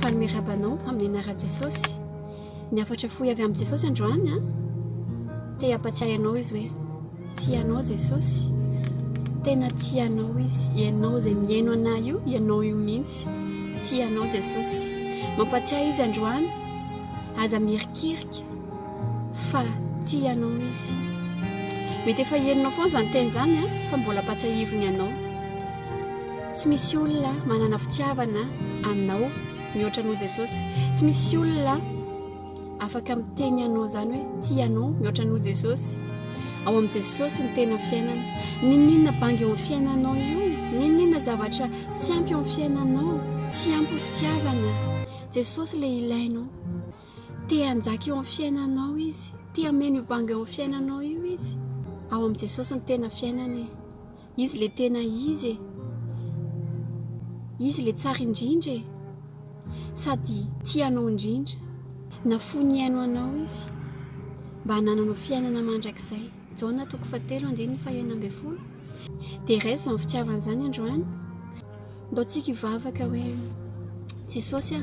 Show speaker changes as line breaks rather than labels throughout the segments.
Fa ny miarahaba anao amin'ny anaran'i Jesosy. Ny hafatra fohy avy amin'i Jesosy androany an. Te hampatsiahy anao izy hoe tia anao Jesosy. Tena tia anao izy. Ianao izay mihaino anay io, ianao io mihitsy. Tia anao Jesosy. Mampatsiahy izy androany. Aza mirikirika fa tia anao izy. Mety efa henonao foana izany teny izany an, fa mbola ampatsiahiviny anao. Tsy misy olona manana fitiavana anao mihoatra anao Jesosy. Tsy misy olona afaka miteny anao izany hoe tia anao mihoatra anao Jesosy. Ao amin'i Jesosy ny tena fiainana. N'inon'inona bango eo amin'ny fiainanao io, n'inon'inona zavatra tsy ampy eo amin'ny fiainanao, tsy ampy fitiavana. Jesosy ilay ilainao. Te hanjaka eo amin'ny fiainanao izy. Te hameno io bango eo amin'ny fiainanao io izy. Ao amin'i Jesosy ny tena fiainana e. Izy le tena izy e! Izy le tsara indrindra e! Sady tia anao indrindra. Nafoy nihaino anao izy mba hanananao fiainana mandrakizay. Jaona toko fahatelo andininy fahenina ambin'ny folo. Dia raiso izany fitiavana izany androany. Mbô tsika hivavaka hoe Jesosy a,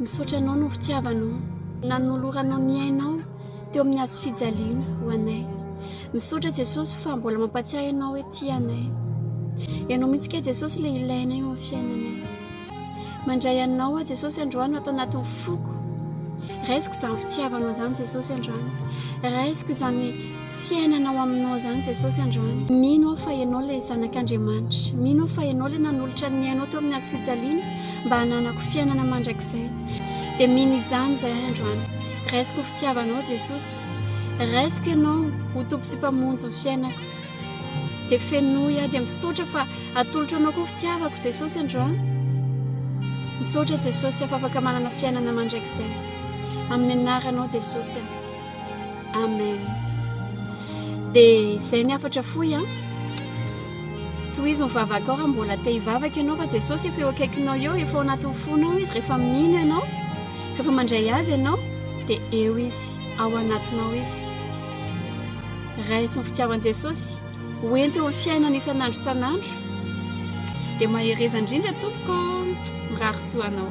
misaotra anao noho fitiavanao nanoloranao ny ainao teo amin'ny hazo fijaliana ho anay. Misaotra Jesosy fa mbola mampatsiahy anao hoe tia anay. Ianao mihitsy ke Jesosy le ilainay eo amin'ny fiainanay. Mandray anao aho Jesosy androany ato anatin'ny foko Raisiko izany fitiavanao izany Jesosy androany Raisiko izany fiainanao aminao izany Jesosy androany Mino aho fa ianao ilay zanak'Andriamanitra Mino aho fa ianao ilay nanolotra ny ainao teo amin'ny hazo fijaliana mba hananako fiainana mandrakizay Dia mino izany izay ahy androany Raisiko ho fitiavanao Jesosy Raisiko ianao ho Tompo sy Mpamonjy ny fiainako Dia fenoy aho dia misaotra fa atolotro anao koa fitiavako Jesosy andro an! Misaotra Jesosy fa afaka manana fiainana mandrakizay amin'ny anaranao Jesosy an! Amen! Dia izay ny hafatra fohy an! Tohizo ny vavakao raha mbola te hivavaka ianao fa Jesosy efa eo akaikinao eo, efa ao anatin'ny fonao izy rehefa mino ianao, rehefa mandray azy ianao dia eo izy, ao anatinao izy. raisin'ny fitiavan'i Jesosy ho ento eo amin'ny fiainana isan'andro isan'andro dia mahereza indrindra tompoko, mirary soa anao.